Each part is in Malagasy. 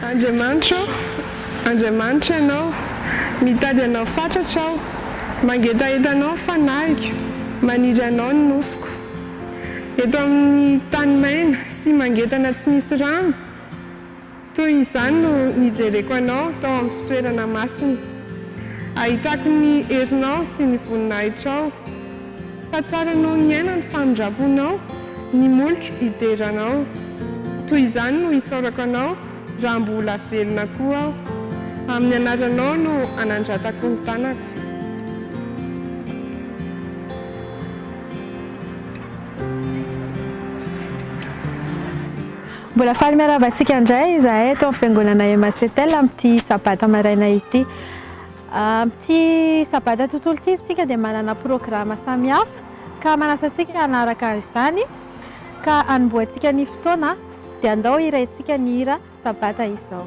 Andriamanitro ô, Andriamanitra Ianao, mitady Anao fatratra aho, mangetaheta Anao ny fanahiko, maniry Anao ny nofoko. Eto amin'ny tany maina sy mangetana tsy misy rano, toy izany no nijereko Anao tao amin'ny fitoerana masina. Ahitako ny herinao sy ny voninahitrao. Fa tsara anao niaina ny famindramponao Ny molotro hideranao Toy izany no hisaorako anao Raha mbola velona koa aho Amin'ny anaranao no anandratako ny tanako Mbola faly miarahaba antsika indray izahay eto amin'ny Fiangonana Emasetel amin'ity Sabata maraina ity. Amin'ity Sabata tontolo ity isika dia manana programa samihafa ka manasa antsika hanaraka izany ka hanombohantsika ny fotoana dia andao hirahintsika ny hira Sabata izao.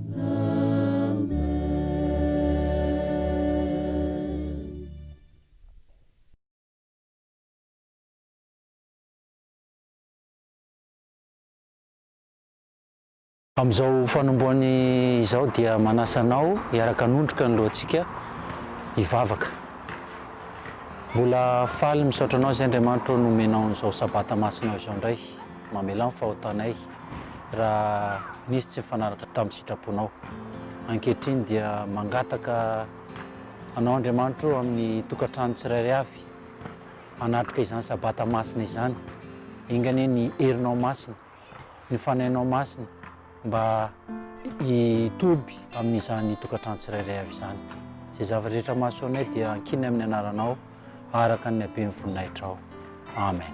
Amin'izao fanombohany izao dia manasa anao hiaraka hanondroka ny lohantsika hivavaka. Mbola faly misaotra anao izay Andriamanitra ô nomenao an'izao sabata masina izao indray, mamelà ny fahotanay. raha nisy tsy nifanaraka tamin'ny sitraponao. Ankehitriny dia mangataka anao Andriamanitro amin'ny tokantrano tsirairay avy hanatrika izany sabata masina izany. Enga anie ny herinao masina, ny fanahinao masina mba hitoby amin'izany tokantrano tsirairay avy izany. Izay zavatra rehetra mahasoanay dia ankina amin'ny anaranao araka ny haben'ny voninahitrao. Amen.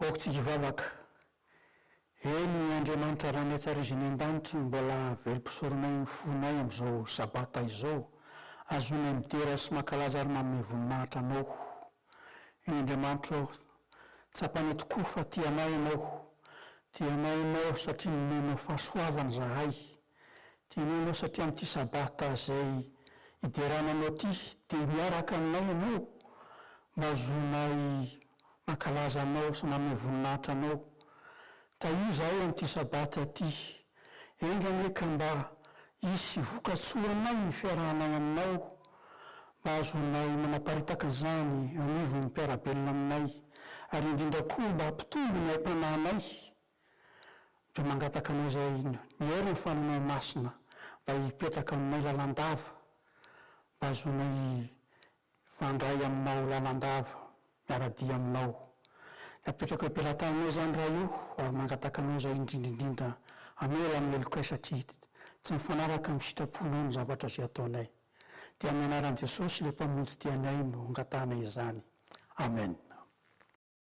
Aoka tsika hivavaka. Eny, Andriamanitra Ranetsariziny an-danitra, mbola velom-pisoronay ny fonay amin'izao Sabata izao, azonay midera sy mankalaza ary manome voninahitra Anao. Io Andriamanitro aho. Tsapanay tokoa fa tia anay Ianao. Tia anay Ianao satria nomenao fahasoavana izahay. Tianao ianao satria amin'ity Sabata izay hiderana anao ity dia miaraka aminay ianao mba hahazoanay mankalaza anao sy manome voninahitra anao. Tahio izahay amin'ity Sabata ity. Enga anie ka mba hisy vokatsoanay ny fiarahanay aminao mba hahazoanay manaparitaka an'izany eo anivon'ny mpiara-belona aminay ary indrindra koa mba hampitombo ny aim-panahinay Dia mangataka anao izay nihaino ny fananao masina mba hipetraka aminay lalandava, mba hahazoanay hifandray aminao lalandava, miara-dia aminao. Dia apetrako eo am-pelatananao izany Ray o, ary mangataka anao izay indrindra indrindra hamela ny helokay satria tsy mifanaraka amin'ny sitraponao ny zavatra izay ataonay. Dia amin'ny anaran'i Jesosy ilay Mpamonjy tianay no angatahanay izany. Amen.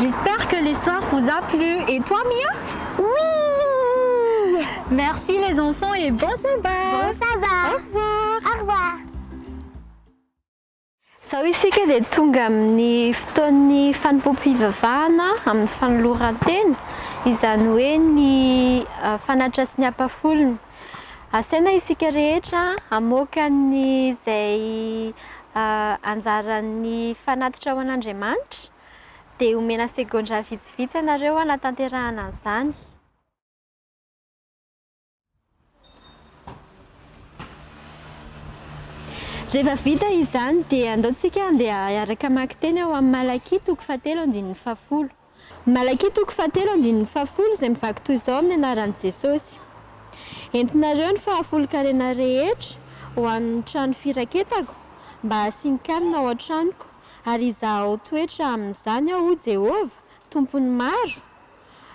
J'espère que l'histoire vous a plu et toi Mia? Oui! Merci les enfants et bon sabbat! Bon sabbat! Au revoir! Au revoir! Izao isika dia tonga amin'ny fotoan'ny fanompoam-pivavahana amin'ny fanoloran-tena, izany hoe ny fanatitra sy ny ampafolony. Asaina isika rehetra hamoaka ny izay anjaran'ny fanatitra ho an'Andriamanitra, dia omena segondra vitsivitsy ianareo hanatanterahana an'izany. Rehefa vita izany dia andao isika handeha hiaraka hamaky teny ao amin'ny Malakia toko fahatelo andininy fahafolo. Ny Malakia toko fahatelo andininy fahafolo izay mivaky toy izao amin'ny anaran'i Jesosy, Entinareo ny fahafolon-karena rehetra ho amin'ny trano firaketako mba hasian-kanina ao an-tranoko, ary hizahao toetra amin'izany aho hoy Jehovah, Tompon'ny maro,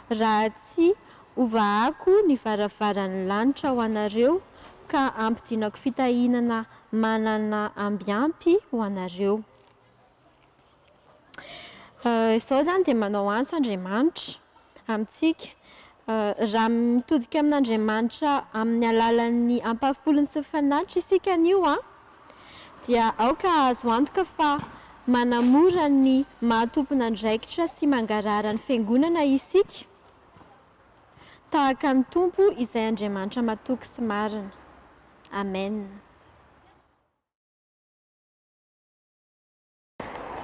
raha tsy hovahako ny varavaran'ny lanitra ho anareo ka hampidinako fitahiana manana ambiampy ho anareo. Izao izany dia manao antso Andriamanitra amintsika. Raha mitodika amin'Andriamanitra amin'ny alalan'ny ampahafolony sy ny fanatriny isika anio an, dia aoka hahazo antoka fa manamora ny maha tompon'andraikitra sy mangarahara ny Fiangonana isika, tahaka ny Tompo izay Andriamanitra matoky sy marina. Amen.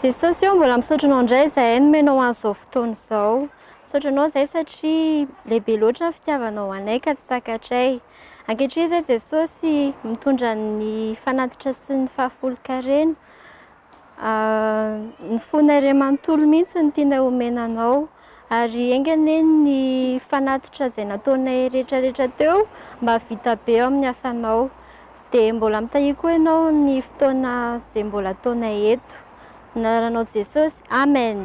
Jesosy ô, mbola misaotra anao indray izahay nomenao an'izao fotoana izao. Misaotra anao izahay satria lehibe loatra ny fitiavanao anay ka tsy takatray. Ankehitriny izay Jesosy mitondra ny fanatitra sy ny fahafolonkarena. Ny fonareo manontolo mihitsy no tianay omena anao. ary enga anie ny fanatitra izay nataonay rehetra rehetra teo mba havita be eo amin'ny asanao dia mbola mitahiako koa ianao ny fotoana izay mbola ataonay eto amin'ny anaranao Jesosy amen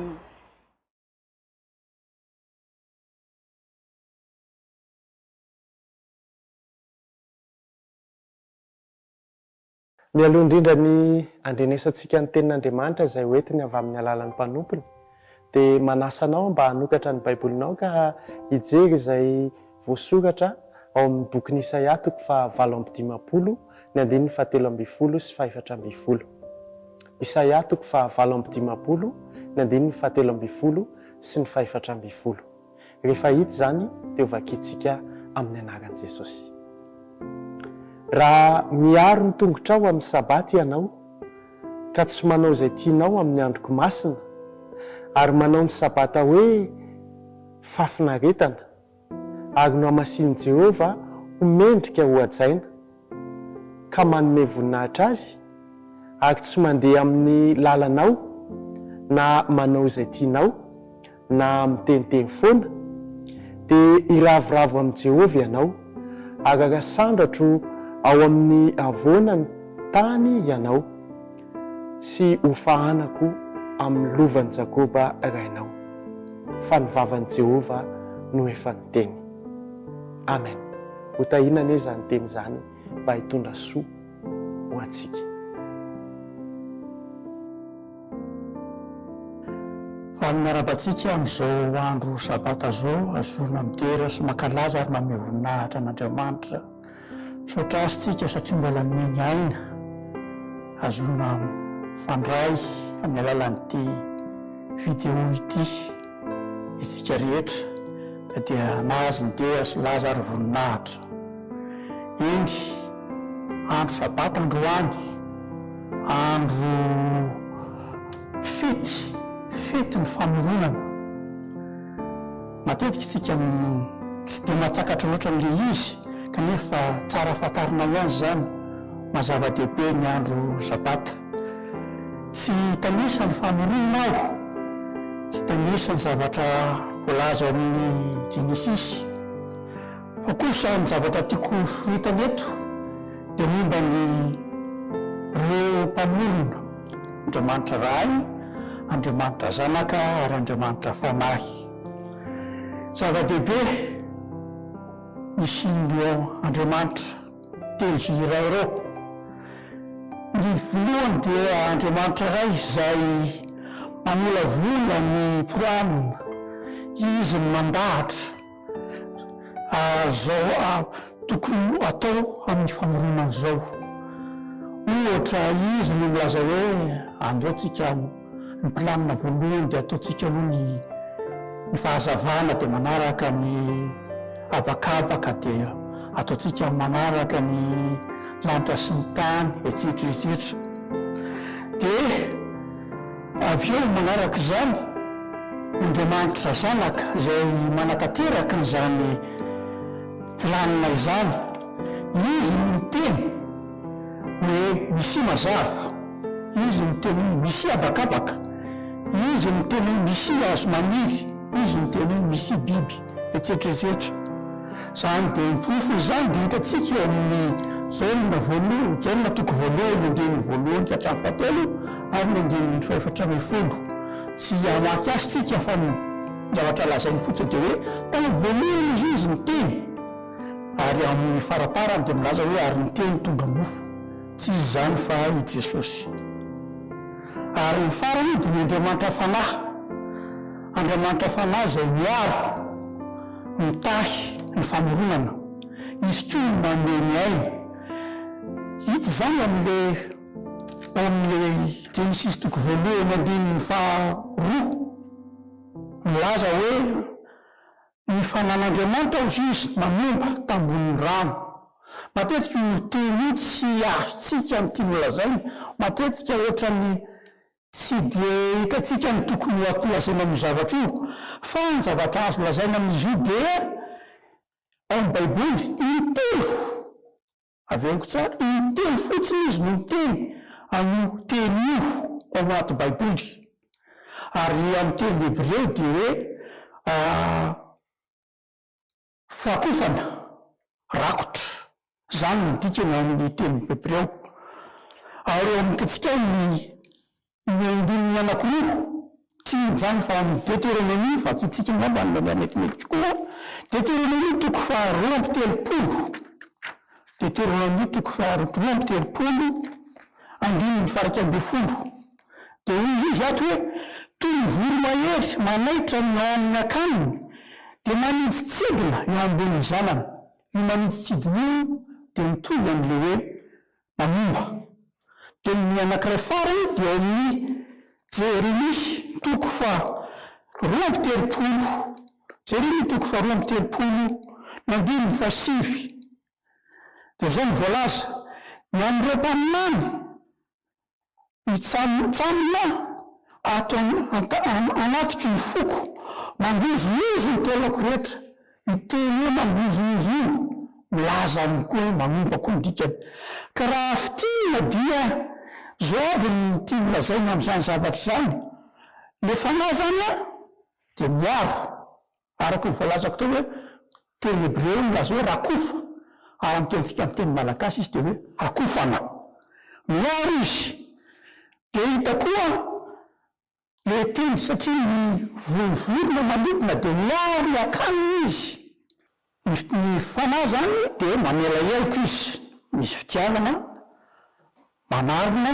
Mialoha indrindra ny handrenesantsika ny Tenin'Andriamanitra izay hoentiny avy amin'ny alalan'ny mpanompony, dia manasa anao mba hanokatra ny Baibolinao ka hijery izay voasoratra ao amin'ny bokin'i Isaia toko fahavalo amby dimampolo ny andininy fahatelo ambin'ny folo sy fahefatra ambin'ny folo. Isaia toko fahavalo amby dimampolo ny andininy fahatelo ambin'ny folo sy ny fahefatra ambin'ny folo. Rehefa hita izany dia ho vakintsika amin'ny anaran'i Jesosy. Raha miaro ny tongotrao amin'ny Sabata ianao ka tsy manao izay tianao amin'ny androko masina ary manao ny Sabata hoe fahafinaretana ary nohamasinin'i Jehovah ho mendrika hohajaina, ka manome voninahitra Azy, ary tsy mandeha amin'ny lalanao, na manao izay tianao, na miteniteny foana, dia hiravoravo amin'i Jehovah ianao, araka sandratro ao amin'ny havoanan'ny tany ianao. sy ho fahanako amin'ny lovan'i Jakoba rainao, fa ny vavan'i Jehovah no efa niteny. Amen. Ho tahiana anie izany teny izany mba hitondra soa ho antsika. Valiny miarahaba antsika amin'izao andro sabata izao, zorona midera sy mankalaza ary mamehy voninahitra an'Andriamanitra. Misaotra azy tsika satria mba nanome ny aina hazoana mifandray amin'ny alalan'ity video ity isika rehetra na dia na azy ny deha sy laza ary voninahitra. Eny, andro sabata androany, andro fety, fetin'ny famoronana. Matetika isika tsy dia mahatakatra loatra an'ilay izy, kanefa tsara fantarinay ihany izany maha zava-dehibe ny andro Sabata. Tsy hitanisa ny famoronana aho, tsy hitanisa ny zavatra voalaza ao amin'ny Jenesisy. Fa kosa ny zavatra tiako hosoritana eto dia momba an'ireo mpamorona, Andriamanitra Ray, Andriamanitra Zanaka ary Andriamanitra Fanahy. Zava-dehibe isian'ireo andriamanitra telo sy iray ireo. Ny voalohany dia andriamanitra iray izay mamolavola ny Purana, izy no mandahatra izao tokony ho atao amin'ny famoronana izao. Ohatra, izy no milaza hoe andao tsika Ny mpilamina voalohany dia ataontsika aloha ny ny fahazavana dia manaraka ny habakabaka dia ataontsika manaraka ny lanitra sy ny tany etsetra etsetra dia avy eo manaraka izany Andriamanitra zanaka izay manatanteraka an'izany planina izany izy no miteny Hoe Misia mazava, Izy no teny hoe Misia habakabaka, Izy no teny hoe Misia hazo maniry, Izy no teny hoe Misia biby, etsetra etsetra Izany dia ny porofo izany dia hitantsika eo amin'ny Jaona voalohany, Jaona toko voalohany andininy voalohany ka hatramin'ny fahatelo ary ny andininy fahefatra ambin'ny folo. Tsy hamaky azy isika fa ny zavatra lazainy fotsiny dia hoe, Tamin'ny voalohany izy io izy niteny. Ary amin' ny faraparany dia milaza hoe, Ary ny Teny tonga mofo. Tsy izy izany fa i Jesosy. Ary ny farany dia ny Andriamanitra Fanahy. Andriamanitra Fanahy izay miaro, mitahy ny famoronana. Izy koa no manome ny aina. Hita izany amin' ilay ao amin' ilay Jenesisy toko voalohany andininy faharoa. Milaza hoe, Ny fanan'Andriamanitra hoy izy manompa tambonin'ny rano. Matetika io teny io tsy azontsika ny tiany holazaina, matetika ohatran'ny tsy dia hitantsika ny tokony holazaina amin'io zavatra io, fa ny zavatra azo lazaina amin'izy io dia ao amin'ny baiboly intelo Avy eo tsara, intelo fotsiny izy no miteny an'io teny io ao anaty Baiboly. Ary ny amin'ny teny hebreo dia hoe fakofana, rakotra, izany no dikany ao amin'ny teny hebreo. Ary eo amintsika ao ny Ny andininy anankiroa, tsy hijanona fa ao amin'ny Deteronomia, vakintsika angamba ny mamaly metimety tokoa, Deteronomia toko faharoa amby telopolo, Deteronomia toko faharoa amby telopolo, andininy faha-iraika ambin'ny folo. Dia hoy izy ato hoe, Toy ny voromahery manaitra ny ao amin'ny akaniny, dia manidintsidina eo ambonin'ny zanany. Io manidintsidina io dia mitovy amin'ilay hoe Mpamomba. Dia ny anankiray farany dia ao amin'ny Jeremia toko faharoa amby telopolo, Jeremia toko faharoa amby telopolo ny andininy fahasivy. Dia izao no voalaza, Ny an'ireo mpaminany Mitsambontsamboina ato anatiko ny foko, mangozohozo ny taolako rehetra. Io teny hoe mangozohozo io milaza amiko hoe manompa koa ny dikany. Ka raha fintinina dia izao aby ny tiany lazaina amin'izany zavatra izany, le fanahy izany dia miaro, Araka ny voalazako teo hoe teny hebreo milaza hoe rakofa, ary amin'ny tenintsika amin'ny teny malagasy izy dia hoe rakofana. Miaro izy. Dia hita koa ilay teny satria ny vohon'ny vorona manidina dia miaro ny akaniny izy. Ny ny fanahy izany dia mamela heloka izy. Misy fitiavana, manarona,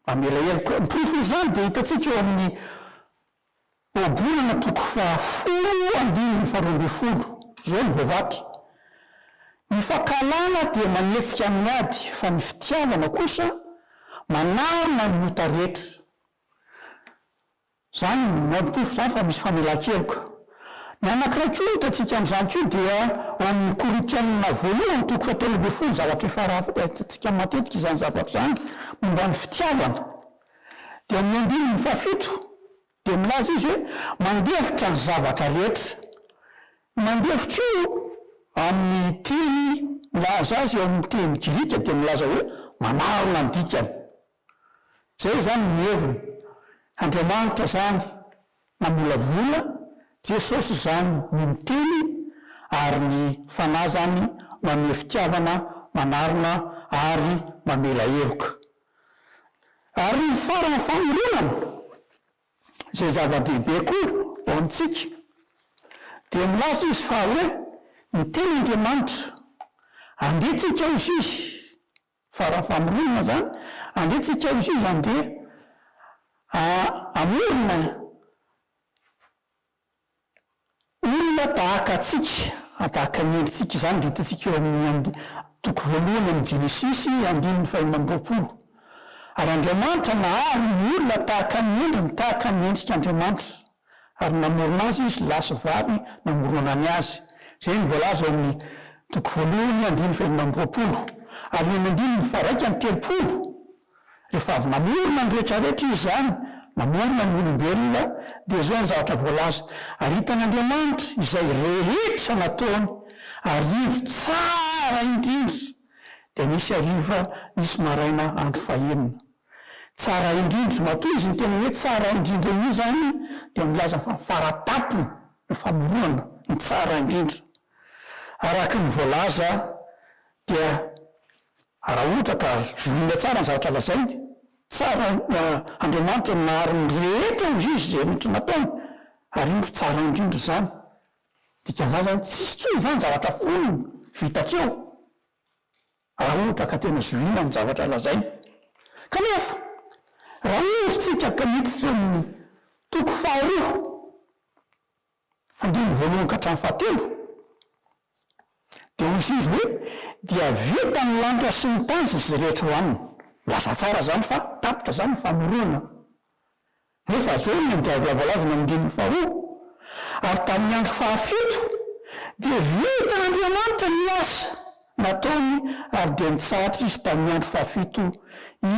mamela heloka. Ny porofon'izany dia hitantsika eo amin'ny Ohabolana toko fahafolo andininy faharoa ambin'ny folo, izao no voavaky, Ny fankahalana dia manetsika amin'ny ady fa ny fitiavana kosa manarona ny ota rehetra. Izany mampitovy izany fa misy famelan-keloka. Ny anankiray koa hitantsika amin'izany koa dia ao amin'ny Korintiana voalohany toko fahatelo ambin'ny folo, zavatra efa hitantsika matetika izany zavatra izany momba ny fitiavana. Dia ny andininy fahafito Dia milaza izy hoe, Mandefitra ny zavatra rehetra. Io mandefitra io, amin'ny teny milaza azy eo amin'ny teny grika dia milaza hoe manarona ny dikany. Izay izany ny heviny. Andriamanitra izany namolavola, Jesosy izany no miteny, ary ny Fanahy izany manome fitiavana, manarona ary mamela heloka. Ary ny faran'ny fanorenana, izay zava-dehibe koa ho amintsika, dia milaza izy fa hoe ny tena Andriamanitra, andeha tsika ao ziz, faran'ny famoronana izany, andeha tsika ao ziz, andeha hamorona Olona tahaka antsika, tahaka ny endritsika izany, dia hitantsika eo amin'ny and. Toko voalohany amin'ny Jenesisy, andininy faha enina amby roapolo. Ary Andriamanitra nahary ny olona tahaka ny endriny, tahaka ny endrik' Andriamanitra, ary namorona azy Izy, lahy sy vavy namoronany azy. Izay no voalaza ao amin'ny toko voalohany, andininy faha enina amby roapolo. Ary eo amin'ny andininy faha iraika amby telopolo. Rehefa avy namorona ny rehetra rehetra Izy izany, namorona ny olombelona, dia izao ny zavatra voalaza, Ary hitan'Andriamanitra izay rehetra nataony, arivo tsara indrindra, dia nisy hariva, nisy maraina andro fahenina. Tsara indrindra, matoa izy niteny hoe tsara indrindra io izany dia milaza fa faratampony ny famoronana, ny tsara indrindra. Araka ny voalaza dia. Raha ohatra ka zorina tsara ny zavatra lazainy, tsara Andriamanitra ny nahary ny rehetra ho zizy izay rehetra nataony, ary indro tsara indrindra izany. Dikan'izany izany, tsisy intsony izany zavatra folo vita tsy eo, raha ohatra ka tena zohiana ny zavatra lazainy. Kanefa, raha hevertsika ka hita tsy eo amin'ny toko faharoa, Andininy voalohany ka hatramin'ny fahatelo, dia hoy Izy hoe, Dia vita ny lanitra sy ny tany sy izay rehetra eo aminy. Milaza tsara izany fa tapitra izany ny famoronana. Nefa zao ny andiam-bola voalaza eny amin'ny andininy faharoa, Ary tamin'ny andro fahafito, dia vitan'Andriamanitra ny asa nataony ary dia nitsahatra Izy tamin'ny andro fahafito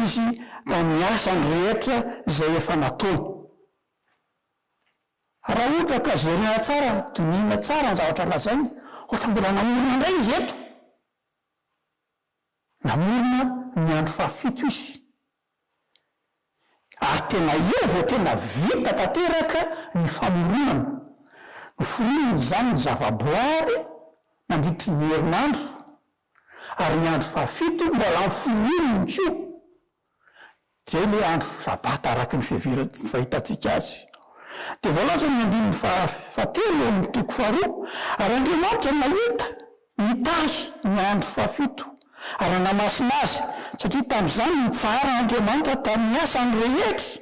Izy tamin'ny asany rehetra izay efa nataony. Raha ohatra ka jerena tsara ary dinihina tsara ny zavatra lazainy, ohatra mbola namorona indray izy eto, namorona ny andro fahafito izy, ary tena eo vao tena vita tanteraka ny famoronana, noforoniny izany ny zavaboary nandritry ny herinandro, ary ny andro fahafito mbola noforoniny koa. Izay ilay andro Sabata araka ny fiheverantsika, fahitantsika azy. Dia voalaza amin'ny andininy fahatelo ao amin'ny toko faharoa, Ary Andriamanitra nahita, nitahy, ny andro fahafito, ary nanamasina azy, satria tamin'izany no nitsahara Andriamanitra tamin'ny asany rehetra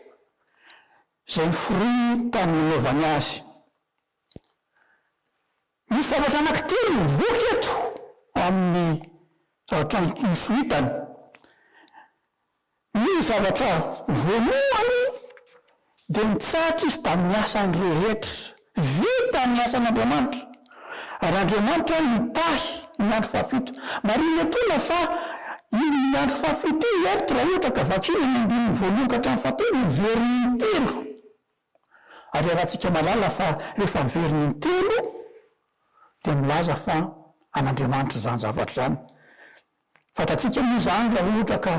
izay noforoniny tamin'ny nanaovany azy. Misy zavatra anankitelo mivoaka eto amin'ny zavatra nosoritany. Ny zavatra voalohany dia nitsahatra izy tamin'ny asany rehetra. Vita ny asan'Andriamanitra, ary Andriamanitra nitahy ny andro fahafito. Marihina etoana fa iny andro fahafito iny, raha ohatra ka vakiana ny andininy voalohany ka hatramin'ny fahatelo, no very intelo. Ary iarahantsika mahalala fa rehefa miverina intelo dia milaza fa an'Andriamanitra izany zavatra izany. Fantatsika moa izany raha ohatra ka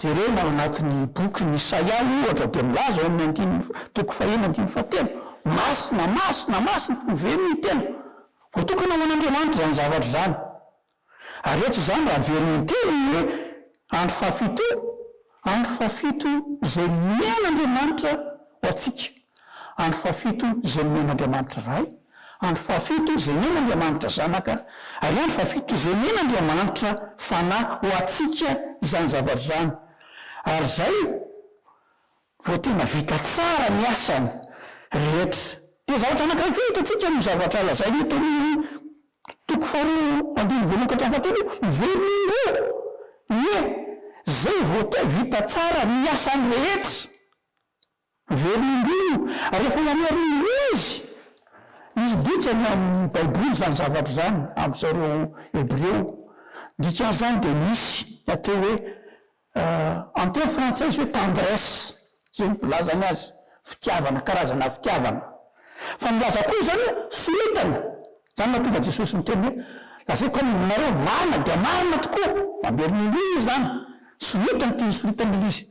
jerena ao anatin'ny bokin'i Isaia ohatra dia milaza ao amin'ny andininy, toko fahenina andininy fahatelo, Masina, masina, masina, miverina intelo. Voatokana ho an'Andriamanitra izany zavatra izany. Ary eto izany raha averina intelo ny hoe andro fahafito, andro fahafito izay nomen'Andriamanitra ho antsika, andro fahafito izay nomen'Andriamanitra Ray, andro fahafito izay nen'Andriamanitra Zanaka, ary andro fahafito izay nen'Andriamanitra Fanahy ho antsika izany zavatra izany. Ary izay Vao tena vita tsara ny asany rehetra dia zavatra anankiray koa hitantsika amin'io zavatra lazainy eto amin'ny toko faharoa andininy voalohany ka hatramin'ny fahatelo io, miverina indray aho, ie, zay vao te vita tsara ny asany rehetra, miverina indroa io, ary efa namerina indroa izy, misy dikany amin'ny baiboly izany zavatra izany, am'zareo hebreo, ny dikan'izany dia misy ny atao hoe Amin'ny teny frantsay izy hoe tendresse, izay no filazany azy, fitiavana, karazana fitiavana. Fa nilaza koa izy izany hoe sorotana. Izany no nahatonga an'i Jesosy niteny hoe, Lazaiko aminareo, marina dia marina tokoa, mamerina indroa izy izany, sorotana ity nisorotan'ilay izy.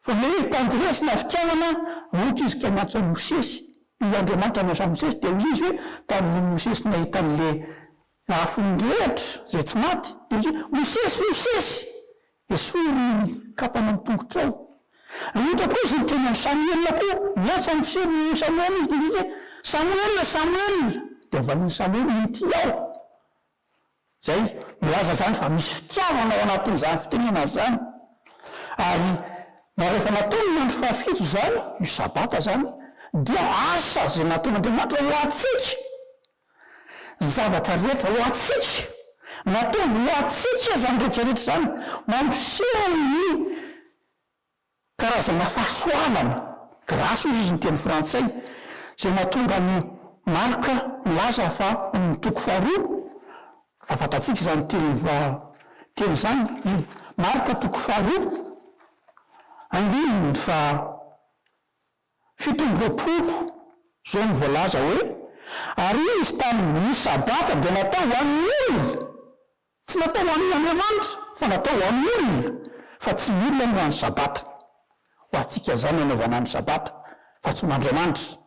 Fa ilay hoe tendresse na fitiavana, ohatra izy ka niantso an'i Mosesy, ilay Andriamanitra niantso an'i Mosesy, dia hoy izy hoe, tamin'iny Mosesy nahita an'ilay Afon'ny rehetra izay tsy maty dia hoe, Mosesy, Mosesy! Esory ny kapana amin'ny tongotrao. Rehetra koa izay niteny amin'i Samoela koa, miantso an'i Mosesy, Ry Samoela izy, dia niteny hoe, Samoela, Samoela! Dia nivalian'i Samoela, Inty aho. Izay milaza izany fa misy fitiavana ao anatin'izany fitenenana izany. Ary na rehefa natao ny andro fahafito izany, io sabata izany, dia asa izay nataon'Andriamanitra ho antsika. zavatra rehetra ho antsika, nataony ho antsika izany rehetra rehetra izany, mampiseho ny karazana fahasoavana, grâce hozy izy ny teny frantsay, izay mahatonga an'i Marka milaza fa ao amin'ny toko faharoa, raha fantatsika izany teny va teny izany, i Marka toko faharoa andininy faha. Fito amby roapolo, izao no voalaza hoe, Ary izy tamin'ny ny sabata dia natao ho an'ny olona, tsy natao ho an'ny Andriamanitra, fa natao ho an'ny olona, fa tsy ny olona no ho an'ny sabata. Ho antsika izany nanaovana ny sabata, fa tsy ho an'Andriamanitra.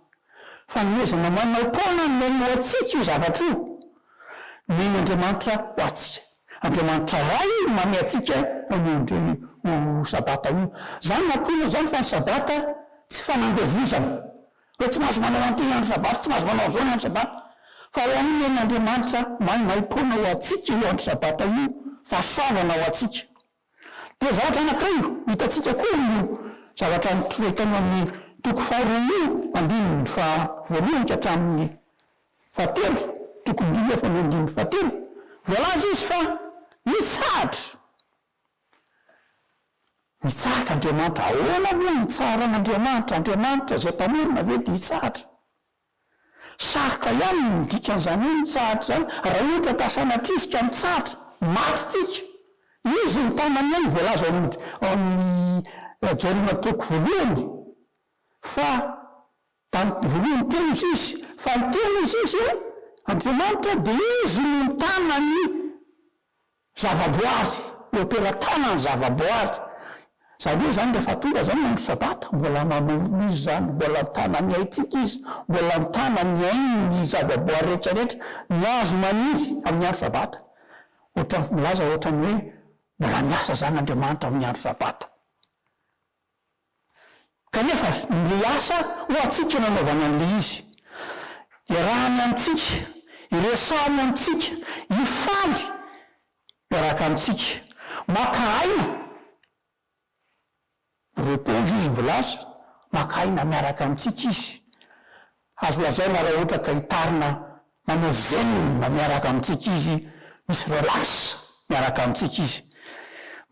Fanomezana manao-poana no neny ho antsika io zavatra io, neny Andriamanitra ho antsika. Andriamanitra Ray no manome antsika an'io indray ho Sabata io. Izany no antonona izany fa ny Sabata tsy fanandevozana, hoe tsy mahazo manao an'ity ny andro Sabata, tsy mahazo manao an'izao ny andro Sabata, fa ho an'Olonain'Andriamanitra maimaim-poana ho antsika io andro Sabata io, fahasoavana ho antsika. Dia zavatra anankiray io, hitantsika koa io zavatra mitory tao amin'ny toko faharoa io andininy faha voalohany ka hatramin'ny fahatelo, toko indrindra fa ny andininy fahatelo, voalaza izy fa nitsahatra, nitsahatra Andriamanitra, ahoana moa hitsaharan'Andriamanitra, Andriamanitra izay mpamorona ve dia hitsahatra? Sarotra ihany ny midika an'izany hoe mitsahatra izany, raha ohatra ka sanatrizika mitsahatra, maty isika. Izy ny tanany ihany voalaza ao amin'ny Jaona toko voalohany fa tamin'ny voalohany ny Teny hoy izy, fa ny Teny hoy izy, Andriamanitra, dia Izy no ny tanany Zavaboary, eo am-pelatana ny zavaboary. Izany hoe izany rehefa tonga izany ny andro sabata, mbola manorina izy izany, mbola an-tanan'ny aintsika izy, mbola an-tanan'ny ainy ny zavaboary rehetra rehetra, ny hazo maniry amin'ny andro sabata. Ohatra milaza ohatra ny hoe mbola miasa izany Andriamanitra amin'ny andro sabata. Kanefa, ny le asa ho antsika nanaovana an'le izy, iarahany amintsika, iresahany amintsika, hifaly miaraka amintsika, maka aina, repondre izy milaza, maka aina miaraka amintsika izy, Azo lazaina raha ohatra ka hitarina manao zen miaraka amintsika izy, misy relax miaraka amintsika izy.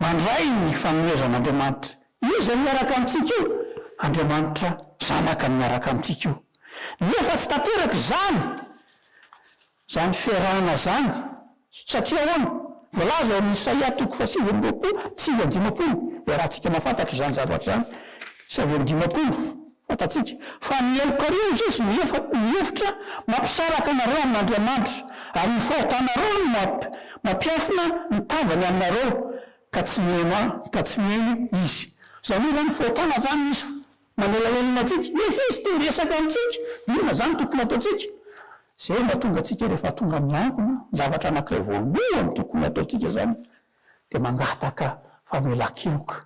Mandray ny fanomezan'Andriamanitra. Iza no miaraka amintsika io? Andriamanitra Zanaka no miaraka amintsika io. Nefa tsy tanteraka izany. Izany fiarahana izany, satria ahoana? Voalaza ao amin'ny Isaia toko fahasivy amby roapolo sivy amby dimampolo, iarahantsika mahafantatra izany zavatra izany, sivy amby dimampolo, fantatsika, Fa ny helokareo, hoy Izy, no efa, no efitra, mampisaraka anareo amin'Andriamanitra, ary ny fahotanareo no mamp, mampiafina ny tavany aminareo, ka tsy mihaino, ka tsy mihaino Izy. Izany hoe izany, fahotana izany misy, Manelahelina antsika, nefa izy te hiresaka amintsika, inona izany tokony hataontsika? Izay mahatonga antsika rehefa tonga miangona, ny zavatra anankiray voalohany tokony hataontsika izany dia mangataka famelan-keloka.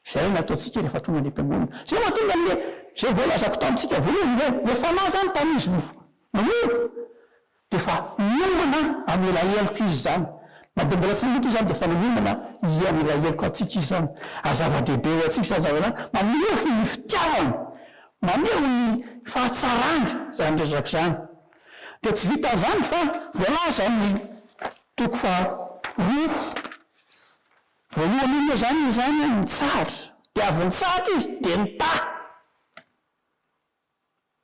Izay no ataontsika rehefa tonga any am-piangonana. Izay mahatonga an'ilay izay voalazako tamintsika voalohany hoe ilay fanahy izany tamin'izy no namono. Efa miomana am ilay heloka izy izany, na dia mbola tsy nanompo izany dia efa miomana i am ilay heloka antsika izy izany, ary zava-dehibe ho antsika izany zavatra izany, maneho fo ny fitiavany, maneho ny fahatsarany izany resaka izany, dia tsy vitan'izany fa voalaza am ny toko faharoa voalohany iny moa izany izy izany an, nitsahatra, dia avy nitsahatra izy dia nitaha.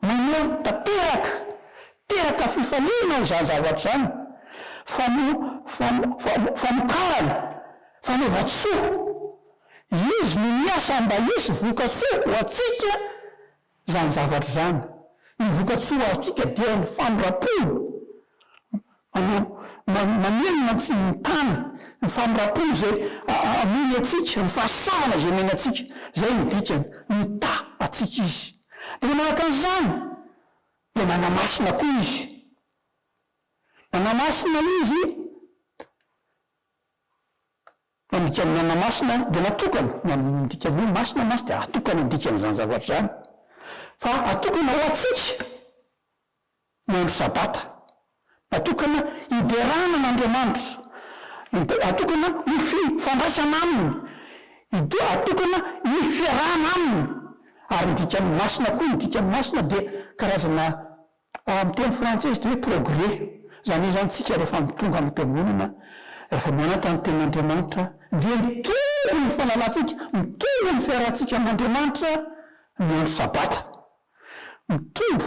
Maneho tanteraka, teraka fifaliana izany zavatra izany, famo, famo, famo, famokarana, fanaovan-tsoa. Izy no miasa mba hisy voka-tsoa ho antsika izany zavatra izany. Ny voka-tsoa azontsika dia ny famindram-po. Manao mamerina ny tany, ny famirampona izay amony antsika, ny fahasoavana izay omeny antsika. Izay no dikany, mita antsika Izy. Dia manaraka an'izany, dia manamasina koa Izy. Manamasina Izy, mandika ny manamasina dia natokana, na ny dikany hoe masina mantsy dia atokana ny dikan'izany zavatra izany, fa atokana ho antsika. ny andro Sabata, natokana hiderana an' Andriamanitra, id, atokana hififandraisana Aminy, id, atokana hifiarahana Aminy. Ary ny dikany masina koa, ny dikany masina dia karazana, ao amin'ny teny frantsay izy dia hoe progrès, izany hoe izany isika rehefa mitonga any am-piangonana, rehefa mianatra ny tenin' Andriamanitra dia mitombo ny fahalalantsika, mitombo ny fiarahantsika amin' Andriamanitra ny andro Sabata. Mitombo,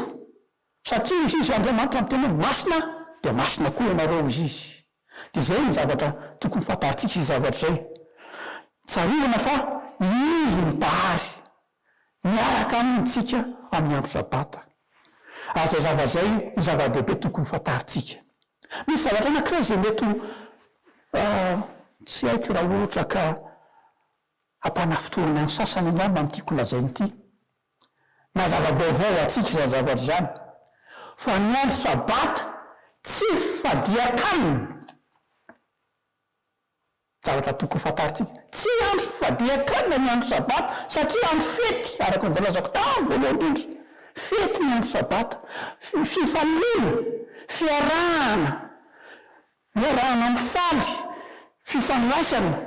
satria hoy izy, Andriamanitra miteny hoe, Masina dia masina koa ianareo, hoy izy. Dia izay no zavatra tokony fantarintsika izay zavatra izay. Tsarovana fa izy no Mpahary, miaraka amintsika amin'ny andro Sabata. Ary izay zavatra izay no zava-dehibe tokony fantarintsika. Misy zavatra anankiray izay mety ho tsy haiko raha ohatra ka hampanafintohina ny sasany angamba ny tiako lazaina ity. Na zava-baovao ho antsika izany zavatra izany, fa ny andro Sabata tsy fifadian-kanina. Zavatra tokony fantarintsika, tsy andro fifadian-kanina ny andro Sabata, satria andro fety, araka ny voalazako tany voalohany indrindra. Fety ny andro Sabata, fi- fifaliana, fiarahana, iarahana mifaly, fifandraisana,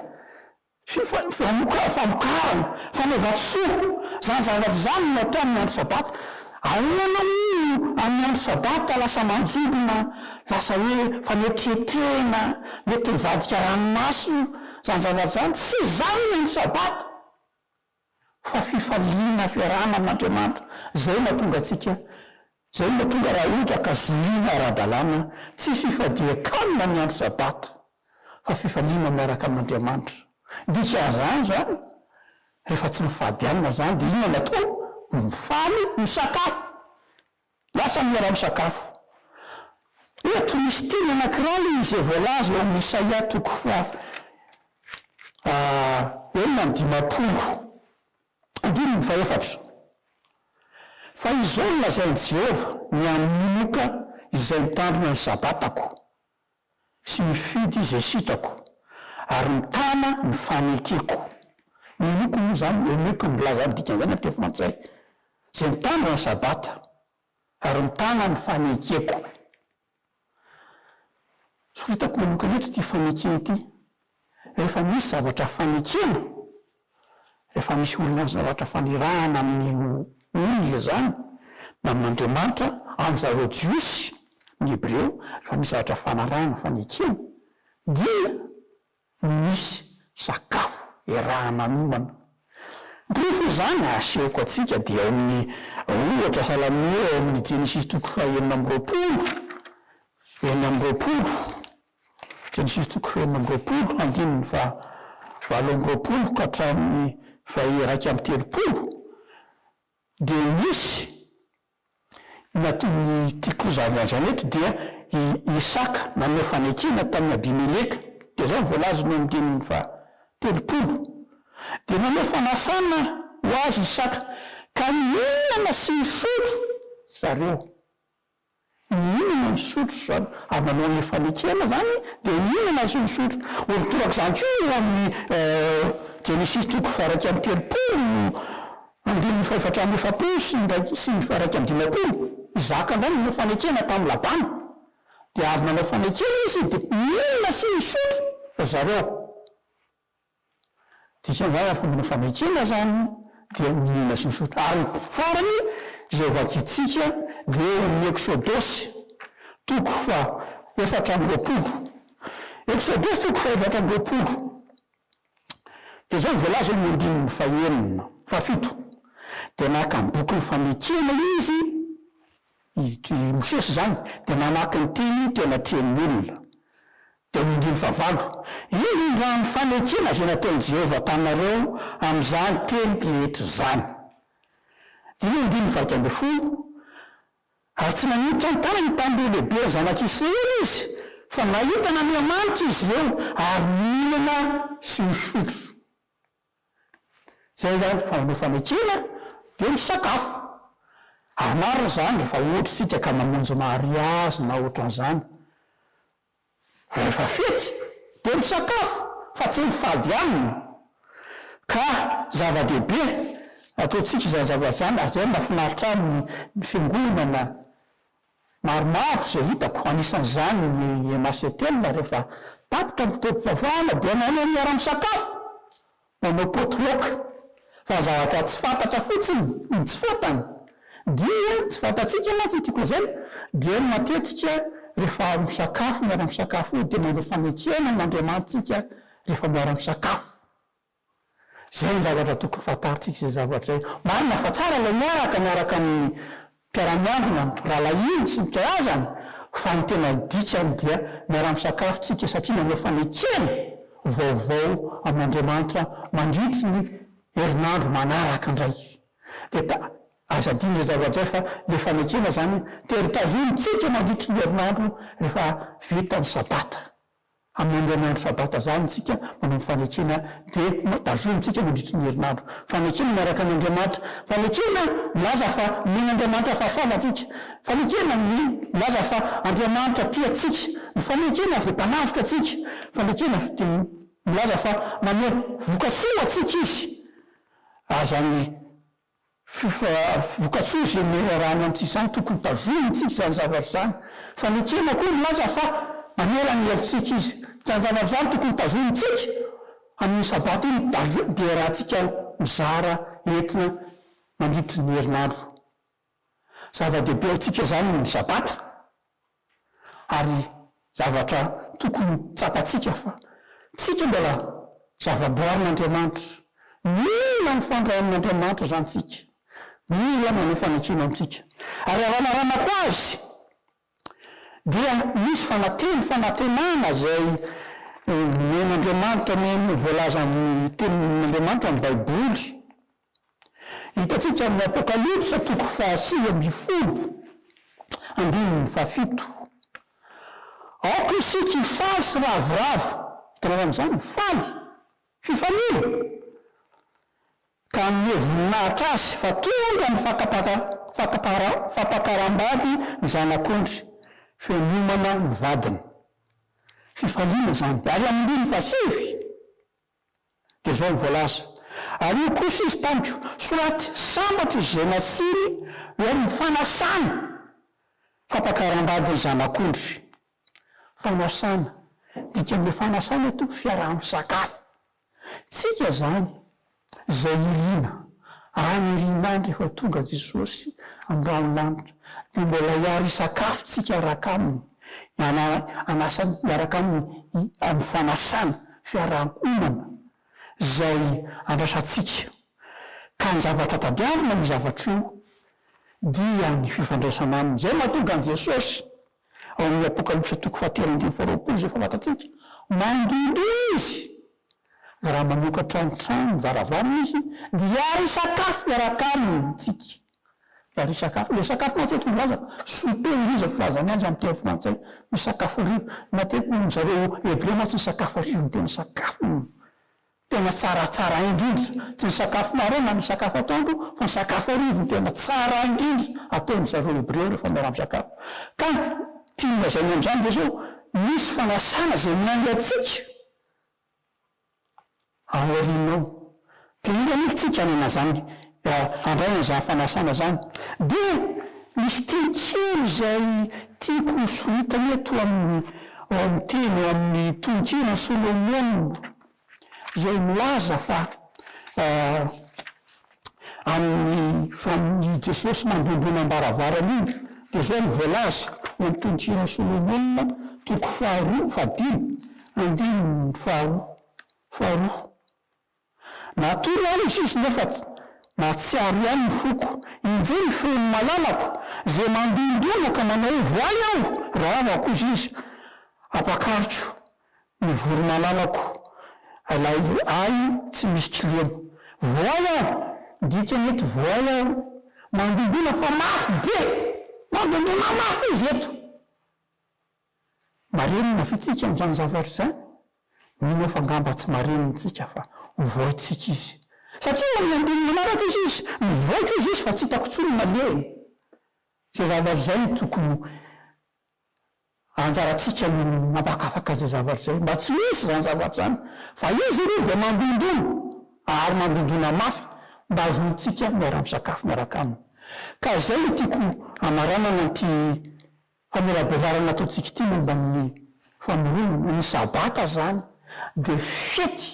Fifanokafana, famokarana, fanaovan-tsoa, izany zavatra izany no natao amin'ny andro sabata. Ahoana moa no amin'ny andro sabata lasa manjombona, lasa hoe fanetren-tena, mety mivadika ranomaso io, izany zavatra izany? Tsy izany ny andro sabata! fa fifaliana fiarahana amin'Andriamanitra, zay no hatonga antsika, zay no mahatonga raha ohatra ka zorina ara-dalàna, tsy fifadian-kanina ny andro sabata, fa fifaliana miaraka amin'Andriamanitra, dikan'izany zany, rehefa tsy mifady hanina zany dia inona no atao? Mifaly misakafo, Lasa niara-misakafo. Eto misy teny anankiray izay voalaza ao amin'ny Isaia toko faha enina amby dimampolo, andininy fahefatra, Fa izao no lazain'i Jehovah, Ny hamonoka izay mitandrina ny Sabatako, sy mifidy izay sitrako ary mitana ny fanekeko. Ny henoko moa izany, henoko no milaza ny dikan'izany amin'ny teny frantsay, izay mitandrina ny sabata ary mitana ny fanekeko. Soritako manokana eto ity fanekena ity, rehefa misy zavatra fanekena. Rehefa misy olona zavatra fanirahana amin'ny olona izany na amin'Andriamanitra amin'izareo Jiosy ny Hebreo rehefa misy zavatra fanarahana fanekena dia misy sakafo erahana miomana. Ny porofo izany asehoko antsika dia ao amin'ny ohatra salamo ao amin'ny Jenesisy toko fahenina amby roapolo enina amby roapolo Genesisy toko fahenina amby roapolo andininy faha valo amby roapolo ka hatramin'ny faha iraika amby telopolo dia nisy ny atin'ny ity koza avy hatrany eto dia i Isaka nanao fanekena tamin'i Abimeleka dia izao ny voalazany eo amin'ny andininy faha telopolo dia nanao fanasana ho azy Isaka ka nihinana sy nisotro zareo. Mihinana ny sotriny izany ary manao an'ilay fanekena izany dia mihinana ny sotrosotrony. Ony toraka izany koa eo amin'ny Genesisy toko faha-iraika amby telopolo andininy fahefatra amby efapolo sy ny iraika sy ny faha-iraika amby dimampolo. Isaka indray nanao fanekena tamin'i Labana. Dia avy nanao fanekena izy dia mihinana sy misotro ry zareo. Dikan'izany raha fomba fanekena izany dia mihinana sy misotro. Ary ny farany izay vakintsika dia eo amin'ny Eksodosy toko fahaefatra amby roapolo. Eksodosy toko fahaefatra amby roapolo dia izao no voalaza eo amin'ny andininy fahenina, fahafito, Dia naka ny bokin'ny fanekena izy, I Mosesy izany dia namaky ny teny teo anatrehan'ny olona. Dia hoy indrindra fa valo, Ino indrà ny fanekena izay nataon'i Jehovah taminareo amin'izany teny rehetra izany? Dia eo andininy valo ambin'ny folo, Ary tsy nanindritra ny tanany tamin'ireo lehibe ny zanak'i Israely izy, fa nahita an'Andriamanitra izy ireo ary nihinana sy nisotro. Izay ihany koa no fanekena dia ny sakafo. Ary marina izany rehefa ohatra isika ka mamonjy mariazy na ohatran'izany, rehefa fety dia misakafo fa tsy mifady hanina. Ka zava-dehibe ataontsika izany zavatra izany ary izay no mahafinaritra ahy ny fiangonana Maromaro izay hitako, anisan'izany ny MACTEL rehefa tapitra ny fotoam-pivavahana dia manao miara-misakafo, manao potluck, fa zavatra tsy fantatra fotsiny no tsy fantany, dia tsy fantatsika mantsy ny tiako lazaina dia ny matetika rehefa misakafo miara-misakafo io dia manao fanekena amin'Andriamanitsika rehefa miara-misakafo. Izay ny zavatra tokony fantarintsika izay zavatra izay. Marina fa tsara ilay miaraka miaraka amin'ny mpiara-miambina, ny rahalahiny sy ny mpihazany, fa ny tena dikany dia miara-misakafo tsika satria manao fanekena vaovao amin'Andriamanitra mandritry ny herinandro manaraka indray. Dia ta, aza adino izay zavatra izay fa ilay fanekena izany tery tazonintsika mandritry ny herinandro rehefa vita ny sabata. Amin'ireny andro Sabata izany isika manao ny fanekena dia tazomintsika mandritry ny herinandro. Fanekena miaraka amin'Andriamanitra. Fanekena milaza fa nomen'Andriamanitra fahasana antsika. Fanekena milaza fa Andriamanitra tia antsika. Ny fanekena dia mpanavotra antsika. Fanekena dia milaza fa manome vokatsoa ho antsika Izy. Ary izany Vokatsoa izay noraran'ny amintsika izany, tokony tazonintsika izany zavatra izany. Fa ny ekena koa milaza fa mamela ny helotsika izy. Izany zavatra izany tokony tazonintsika amin'iny sabata iny, tazo- deratsika mizara entina mandritry ny herinandro. Zava-dehibe amintsika izany ny sabata. ary zavatra tokony ho tsapantsika fa tsika mbola zavaboarin'Andriamanitra, mila mifandray amin'Andriamanitra izany tsika, mila manao fanekena amintsika, ary raha naramako azy dia misy fanateny fanantenana izay nomen'Andriamanitra noho ny voalazan'ny tenin'Andriamanitra ny baiboly, Hitantsika amin'ny Apokalypsa toko fahasivy ambin'ny folo andininy fahafito. Aoka isika hifaly sy ravoravo, hitanareo amin'izany? Faly, fifaliana, ka hanome voninahitra Azy fa tonga ny fakapaka, fakapara, fampakaram-bady ny Zanak'ondry, feo miomana ny vadiny. Fifaliana izany, ary amin'ny andininy fahasivy. Dia izao no voalaza, Ary hoy kosa izy tamiko, Soraty sambatra izay natsoiny ho amin'ny fanasana fampakaram-badin'ny zanak'ondry. Fanasana, dikan'ilay fanasana eto, fiaraha-misakafo. Tsika izany, izay iriana, any aoriana any rehefa tonga Jesosy amin'ny rahon'ny lanitra, dia mbola hiara hisakafo tsika hiaraka Aminy, hianara hanasa miaraka Aminy amin'ny fanasana. fiaraha-monina izay andrasantsika, ka ny zavatra tadiavina amin'io zavatra io dia ny fifandraisana aminy, izay no mahatonga an'i Jesosy ao amin'ny Apokalypsa toko fahatelo ambin'ny folo roapolo izay fantatsika, mandohandoha Izy, raha manokatra ny trano ny varavarana Izy dia hisakafo miaraka Aminy isika. Ry sakafo, ilay sakafo mantsy eto milaza, souper hoy izy filazany azy amin'ny teny frantsay, ny sakafo hariva. Matetika hoy zareo hebreo mantsy ny sakafo hariva no tena sakafo tena tsaratsara indrindra. Tsy ny sakafo maraina na ny sakafo atoandro fa ny sakafo hariva no tena tsara indrindra ataon-dry zareo hebreo rehefa miara-misakafo. Ka tiany lazaina amin'izany Jesoa, misy fanasana izay miainga antsika. Aorianao. Dia inona anefa isika hanana izany handray an'izany fanasana izany? Dia misy teny kely izay tiako ho soritana eto amin'ny ao amin'ny teny ao amin'ny tononkiran'i Solomona izay milaza fa amin'ny famin' i Jesosy nandondona am-baravarana iny, dia izao no voalaza ao amin'ny Tononkira Solomona, toko faharoa, fahadimy, andininy faharoa, faharoa, Natory aho izy izy nefa nahatsiaro ihany ny foko, injay ny feony malalako, izay mandondona ka manaovo ahy aho, raha avy akoza izy, ampakariko Ny voromalalako lay ahy tsy misy kiliana. Voay aho! Dikany eto voay aho mandondona fa mafy be! Mandondona mafy izy eto! Marenina ve tsika amin'izany zavatra izany? Mino aho fa angamba tsy marenina tsika fa ho voaintsika izy. Satria eo amin'ny andininy manaraka izy izy, mivoaka izy izy fa tsy hitako intsony ny nalehany. Izay zavatra izay no tokony ho Anjarantsika ny mampakafaka izay zavatra izay mba tsy ho hisy izany zavatra izany fa izy ireo dia mandondona ary mandondona mafy mba hahazoantsika miara-misakafo miaraka aminy. Ka izay no tiako hamaranana an'ity famelabelarana ataontsika ity momba ny famoronana. Ny sabata izany dia fety,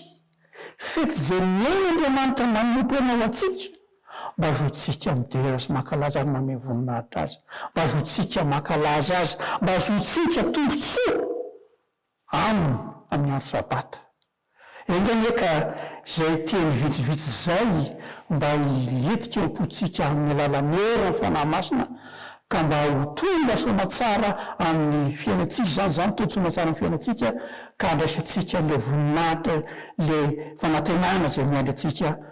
fety izay mihaino Andriamanitra manompo anao antsika. Mba zontsika midera sy mankalaza ary mamehy voninahitra Azy. Mba zontsika mankalaza Azy. Mba zontsika tombotsoa Aminy amin'ny andro Sabata. Enga anie ka izay teny vitsivitsy izay mba hilentika ao am-pontsika amin'ny alalan'ny herin'ny Fanahy Masina, ka mba ho tolona soamantsara amin'ny fiainantsika izany, izany tolona soamantsara amin'ny fiainantsika, ka handraisantsika an'ilay voninahitra, ilay fanantenana izay miandry antsika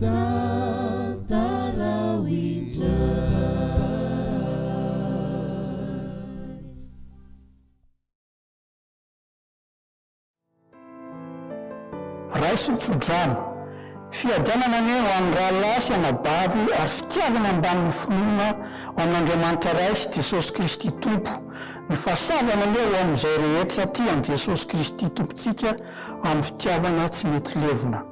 Tantarao indray. Raiso ny tsodrano. Fiadanana anie ho an'ny rahalahy sy anabavy ary fitiavana ambanin'ny finoana ho an'Andriamanitra Ray sy Jesosy Kristy Tompo. Ny fahasoavana anie ho amin'izay rehetra tia an'i Jesosy Kristy Tompontsika amin'ny fitiavana tsy mety levona.